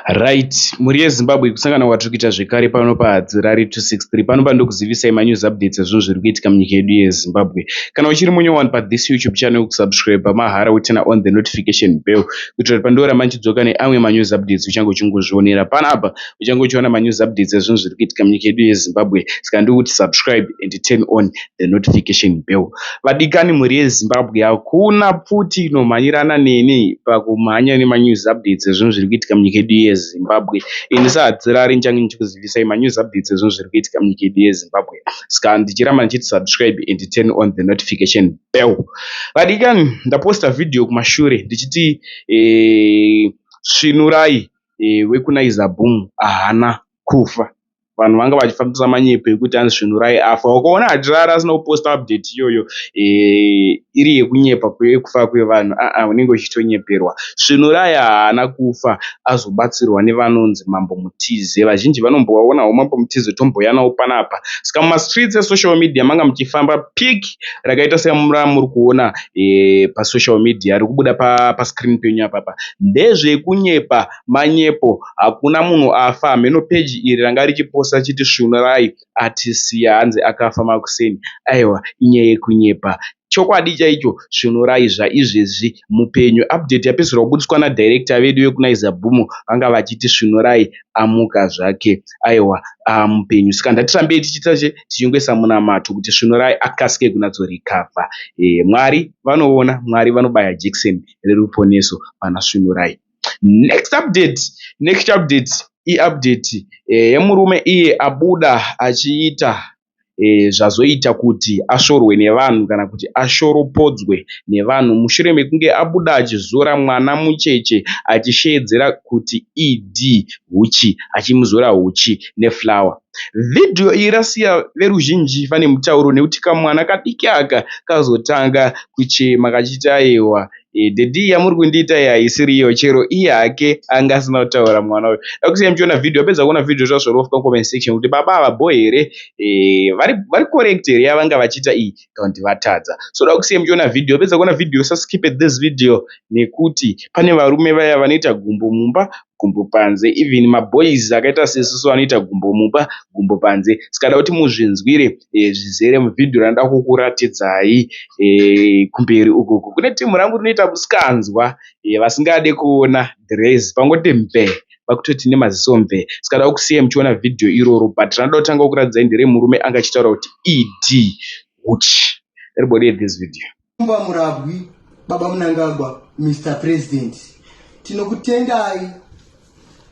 Right, mhuri yeZimbabwe kusangana kwatiri kuita zvekare pano paHadzirari 263 pano pandokuzivisai manews updates ezvinhu zviri kuitika munyika yedu yeZimbabwe. Kana uchiri munye wani pathis YouTube channel kusubscribe pamahara wotina on the notification bell kuitira kuti pandioramba ndichidzoka neamwe manews updates uchange uchingozvionera pana apa uchange uchiona manews updates ezvinhu zviri kuitika munyika yedu yeZimbabwe saka ndikuti subscribe and turn on the notification bell. Vadikani mhuri yeZimbabwe hakuna pfuti inomhanyirana neni pakumhanya nemanews updates ezvinhu zviri kuitika munyika yedu yeZimbabwe. Ini sahadzirari ndichange ndichikuzivisai manews updates ezvinhu zviri kuitika munyika yedu yeZimbabwe. Ska ndichiramba ndichiti subscribe and turn on the notification bell. Vadikani ndaposta video kumashure ndichiti eh, svinurai eh, wekuna Izaboom ahana kufa. vanhu vanga vachifambisa manyepo ekuti anzi svinurai afa wakaona achirara asina kuposta update iyoyo eh, iri yekunyepa yekufa kwevanhu aa unenge uchitonyeperwa svinurai haana kufa azobatsirwa nevanonzi mambo mutize vazhinji vanombovaonawo mambo mutize tomboyanawo panapa saka mumastreets esocial media manga muchifamba pic rakaita semura muri kuona eh, pasocial media rikubuda pascreen penyu apapa ndezvekunyepa manyepo hakuna munhu afa hameno page iri ranga richiposta chiti svunurai atisiya hanzi akafa makuseni aiwa inyaya yekunyepa chokwadi chaicho svunurai zvaizvezvi mupenyu update yapedzisira kubudiswa nadirector vedu vekunaiza bhumu vanga vachiti svunurai amuka zvake aiwa ah, mupenyu saka ndatirambei tichiita che tichingoisa munamato kuti svunurai akasike kunatsorikavha e, eh, mwari vanoona mwari vanobaya jekiseni reruponeso pana svunurai Next update, next update iupdate eh, yemurume iye abuda achiita eh, zvazoita kuti ashorwe nevanhu kana kuti ashoropodzwe nevanhu mushure mekunge abuda achizora mwana mucheche achisheedzera kuti ED huchi achimuzora huchi neflower. Vhidhiyo iyi rasiya veruzhinji vane mutauro nekuti kamwana kadiki aka kazotanga kuchema kachiti ayewa Daddy iyi yamuri kundiita iyi haisiriyo chero iye hake anga asina kutaura mwana uyu dakusiyai muchiona video apedza kuona video zvazvoro ofika comment section kuti baba ava bho here eh, vari vari correct here yavanga vachiita iyi kana kuti vatadza so dakusiyai muchiona video apedza kuona video saskip at this video nekuti pane varume vaya vanoita gumbo mumba gumbo panze even maboys akaita sesu anoita gumbo mumba gumbo panze saka ndakuti muzvinzwire zvizere muvhidhiyo randinoda kukuratidzai. Kumberi ukoko kune team rangu rinoita musikanzwa vasingade kuona dhirezi pangoti mvee kwakutoti nemaziso mvee saka ndinoda kukusiyai muchiona vhidhiyo iroro but randinoda kutanga kukuratidzai nderemurume anga achitaura kuti ED huchi. Everybody at this video. Mumba Murabwi, Baba Munangagwa, Mr President, tinokutendai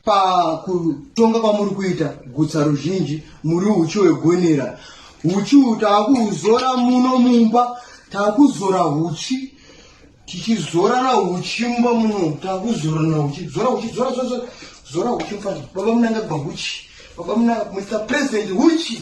pakutonga kwamuri kuita gutsa ruzhinji muri uchi hwegonera uchi uhu taakuuzora muno mumba taakuzora uchi tichizorana uchi mumba muno taakuzorana uchi zora uchi zora zora zora uchi mfana baba munangagwa uchi baba muna mr president uchi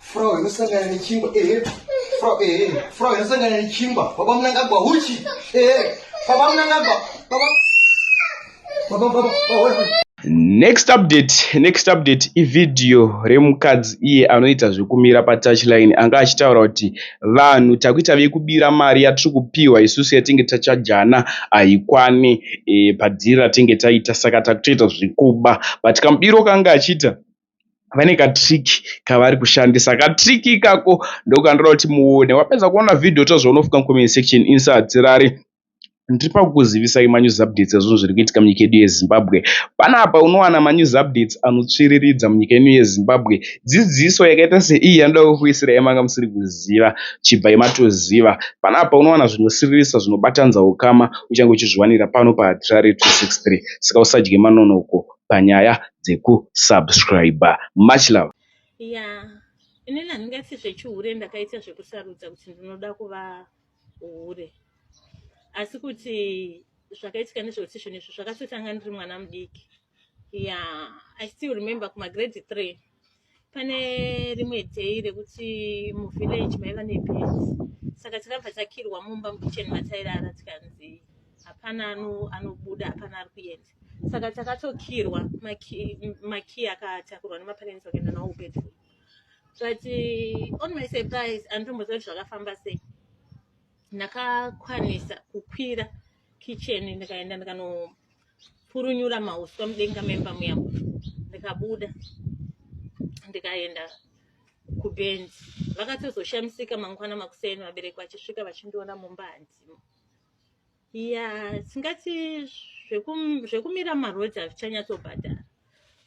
Frau inosangana nechingwa ehe Frau ehe Frau inosangana nechingwa baba munangagwa huchi ehe baba munangagwa baba baba baba baba next update next update ivhidhiyo remukadzi iye anoita zvekumira patouchline anga achitaura kuti vanhu takuita vekubira mari yatiri kupiwa isusu yatinge tachajana haikwane e, padhiri ratinge taita saka takutoita zvekuba but kamubiro kaanga achiita vane ka trick kavari kushandisa ka trick ikako ndokandoda kuti muone wapedza kuona video tozviona ofika mu comment section insadzirari ndiri pakukuzivisai manews updates ezvinhu zviri kuitika munyika yedu yezimbabwe panapa unowana manews updates anotsviriridza munyika yedu yezimbabwe dzidziso yakaita seiyi yanoda kukuisira yamanga musiri kuziva chibva imatoziva panapa unowana zvinosiririsa zvinobatanza ukama uchange uchizviwanira pano pahatirari 263 saka usadye manonoko panyaya dzeku subscriber much love yeah inini handingaiti zvechihure ndakaita zvekusarudza kuti ndinoda kuva hure asi kuti zvakaitika nezvekuti zvinhu izvi zvakatotanga ndiri mwana mudiki yeah i still remember kumagrade three pane rimwe day rekuti muvillage maiva nebes saka takabva takirwa mumba mukichen matairara tikanzi hapana anobuda hapana ari kuenda saka takatokirwa makiy akatakurwa nemaparents vakaenda nawo bedroom but uh, on my surprise anditomboziva kuti zvakafamba sei ndakakwanisa kukwira kitchen ndikaenda ndikanopurunyura mauswa mudenga memba muya ndikabuda ndikaenda kubenzi vakatozoshamisika mangwana makuseni vabereki vachisvika vachindiona mumba hanzimo ya tingati zvekumira marodzi hazvichanyatsobhadhara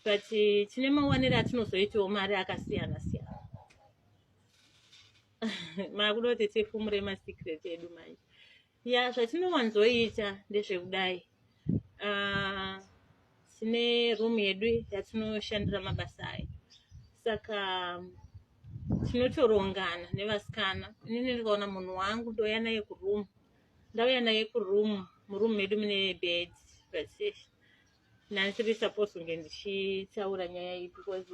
but tine mawanire atinozoitawo mari akasiyana siyana makuda kuti tifumure masecret edu manje ya zvatinowanzoita ndezvekudai ah, tine uh, room yedu yatinoshandira mabasa ayo saka tinotorongana nevasikana inini ndikaona munhu wangu ndouya naye kuroom ndauya naye kuroom muroom medu mune bed but nandisiri supposed kunge ndichitaura nyaya iyi because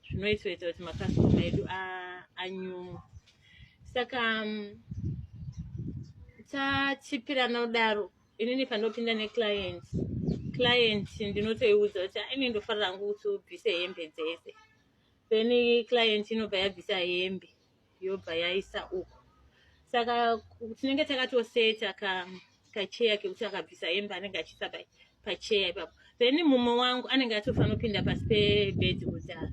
zvinoitoita kuti makastoma edu anyumwe saka mm, tachipirana kudaro inini pandopinda neclient client ndinotoiudza kuti aine ndofarira hangu kuti ubvise hembe dzese then client inobva yabvisa hembe yobva yaisa uko saka tinenge takatoseta ka kacheya kekuti akabvisa hembe anenge achiisa pacheya ipapo then mumwe wangu anenge atofanopinda pasi pebed kudhara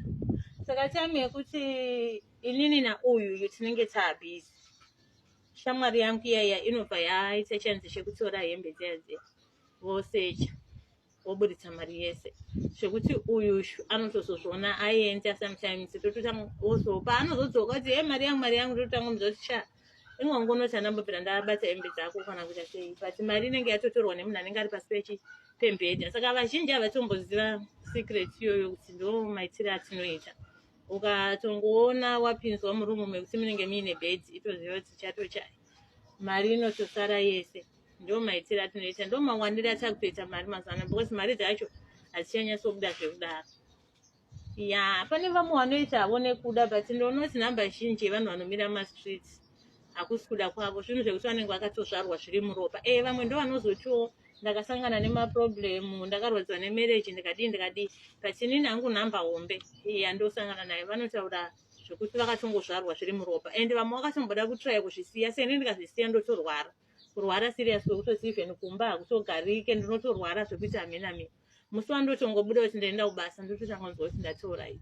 saka time yekuti inini nauyuyu tinenge taabhizi shamwari yangu iyaiya inobva yaita chanzi chekutora hembe dziya dziya vosecha woburitsa mari yese zvekuti uyu anotozozviona aienda sometimes tototanga also paanozodzoka kuti e mari yangu mari yangu tototanga muza kuti sha imwe wangu unoti anambobvira ndabata hembe dzako kana kuita sei but mari inenge yatotorwa nemunhu anenge ari pasi pechi pembhedha saka vazhinji havatomboziva secret iyoyo kuti ndo maitire atinoita ukatongoona wapinzwa murumu mekuti munenge muine bhedhi itoziva kuti chatochai mari inotosara yese ndo maitire atinoita ndo mawandire atakutoita mari mazana because mari dzacho hadzichanyasobuda zvekudaro ya pane vamwe vanoita havo nekuda but ndonoti number zhinji yevanhu vanomira mumastreets hakusi kuda kwavo zvinhu zvekuti vanenge vakatozvarwa zviri muropa e vamwe ndo vanozotiwo ndakasangana nemaproblem ndakarwadziwa nemarriage ndikadii ndikadii but inini hangu nhamba hombe yandosangana nayo vanotaura zvekuti vakatongozvarwa zviri muropa and vamwe vakatomboda kutraya kuzvisiya seni ndikazvisiya ndotorwara so kurwara serious kwekutoti even kumba hakutogarike ndinotorwara zvekuti hamena mi musi wandotongobuda kuti ndaenda kubasa ndototanga kunzwa kuti ndatioright